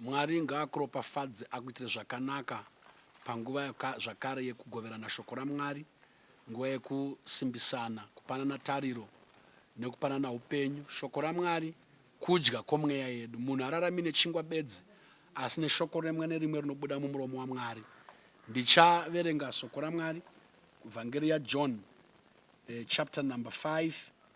Mwari ngaakuropafadze akuitire zvakanaka panguva yaka zvakare yekugoverana shoko raMwari, nguva yekusimbisana, kupanana tariro nekupanana upenyu. Shoko raMwari kudya kwomweya yedu. Munhu hararami nechingwa bedzi asi neshoko remwe nerimwe rinobuda mumuromo waMwari. Ndichaverenga soko raMwari kuVhangeri yaJohn eh, chapter number 5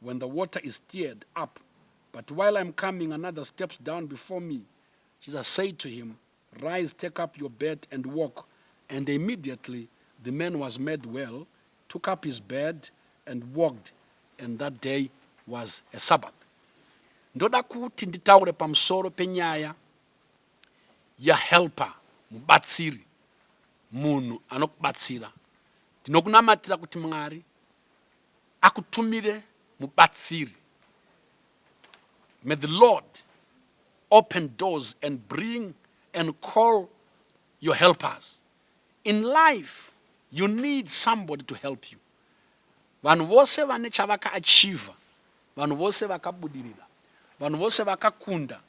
when the water is stirred up but while I'm coming another steps down before me, Jesus said to him, Rise, take up your bed and walk. And immediately the man was made well, took up his bed and walked, and that day was a Sabbath. Ndoda kuti nditaure pamusoro penyaya yahelper mubatsiri munhu anokubatsira ndinokunamatira kuti mwari akutumire mubatsiri may the Lord open doors and bring and call your helpers in life you need somebody to help you vanhu vose vane chavakaachiever vanhu vose vakabudirira vanhu vose vakakunda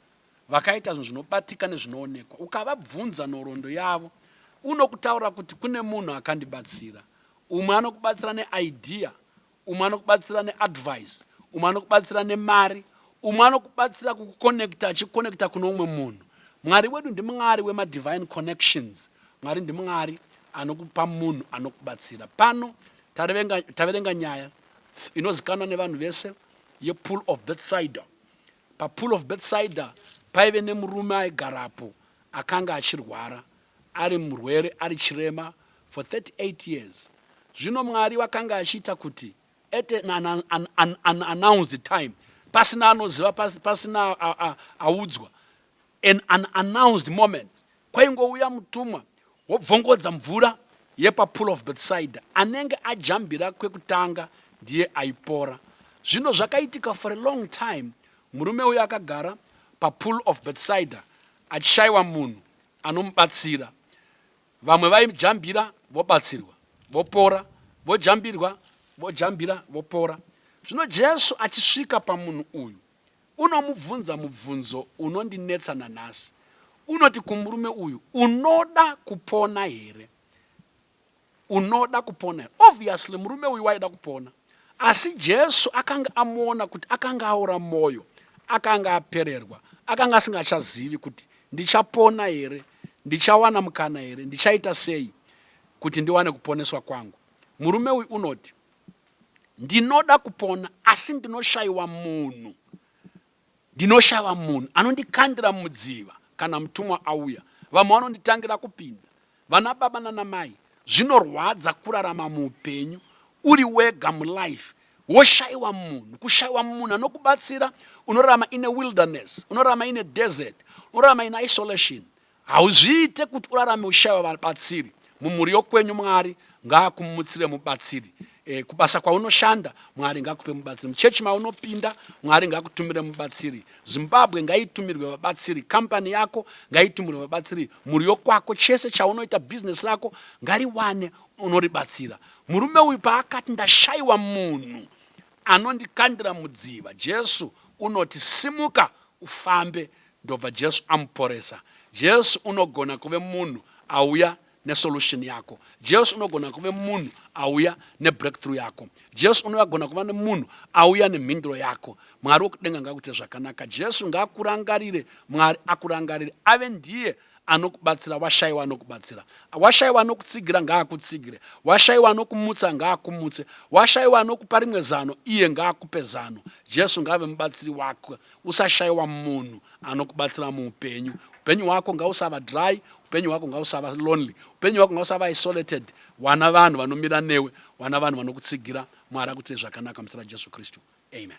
vakaita zvinhu zvinobatika nezvinoonekwa. Ukavabvunza nhoroondo yavo, unokutaura kuti kune munhu akandibatsira. Umwe anokubatsira neidea, umwe anokubatsira neadvice, umwe anokubatsira nemari, umwe anokubatsira kukukonekta achikonekta kune umwe munhu. Mwari wedu ndiMwari wemadivine connections. Mwari ndiMwari anokupa munhu anokubatsira. Pano taverenga nyaya inozikanwa nevanhu vese yepool of Bethsaida. PaPool of Bethsaida paive nemurume aigarapo akanga achirwara, ari murwere, ari chirema for 38 years. Zvino Mwari wakanga achiita kuti at an, an, an, an, an announced time, pasina anoziva, pasina audzwa, An unannounced moment kwaingouya mutumwa wobvongodza mvura yepaPool of Bethsaida. Anenge ajambira kwekutanga ndiye aipora. Zvino zvakaitika for a long time murume uyu akagara paPool of Bethsaida achishaiwa munhu anomubatsira. Vamwe vaijambira vobatsirwa, vopora, vojambirwa, vojambira, vopora. Zvino Jesu achisvika pamunhu uyu. Unomubvunza mubvunzo unondinetsa nanhasi. Unoti kumurume uyu, Unoda kupona here? Unoda kupona here? Obviously murume uyu waida kupona. Asi Jesu akanga amuona kuti akanga aora mwoyo, akanga apererwa, akanga asingachazivi kuti ndichapona here, ndichawana mukana here, ndichaita sei kuti ndiwane kuponeswa kwangu. Murume uyu unoti, Ndinoda kupona asi ndinoshaiwa munhu ndinoshaiwa munhu anondikandira mumudziva kana mutumwa auya. Vamwe vanonditangira kupinda. Vana baba nana mai zvinorwadza kurarama muupenyu uri wega mulife woshaiwa munhu. Kushaiwa munhu anokubatsira unorarama in a wilderness, unorarama in a desert, unorarama in isolation Hauzviite kuti urarame ushaiwa vabatsiri mumhuri yokwenyu Mwari ngaakumutsire mubatsiri e, kubasa kwaunoshanda Mwari ngakupe mubatsiri muchechi maunopinda Mwari ngakutumire mubatsiri Zimbabwe ngaitumirwe vabatsiri kampani yako ngaitumirwe vabatsiri mhuri yokwako chese chaunoita bhizinesi rako ngariwane unoribatsira murume uyu paakati ndashaiwa munhu anondikandira mudziva Jesu unoti simuka ufambe Ndobva Jesu amuporesa. Jesu unogona kuve munhu auya ne solution yako. Jesu unogona kuve munhu auya ne breakthrough yako. Jesu unogona kuva ne munhu auya ne mhinduro yako. Mwari wekudenga ngakuite zvakanaka. Jesu ngakurangarire. Mwari akurangarire. Ave ndiye anokubatsira washaiwa anokubatsira washaiwa anokutsigira ngaakutsigire washaiwa anokumutsa ngaakumutse washaiwa anokupa rimwe zano iye ngaakupe zano jesu ngaave mubatsiri wako usashaiwa munhu anokubatsira muupenyu upenyu hwako ngausava dry upenyu hwako ngausava lonely upenyu hwako ngausava isolated wana vanhu vanomira newe wana vanhu vanokutsigira mwari akuitire zvakanaka muzita rajesu kristu amen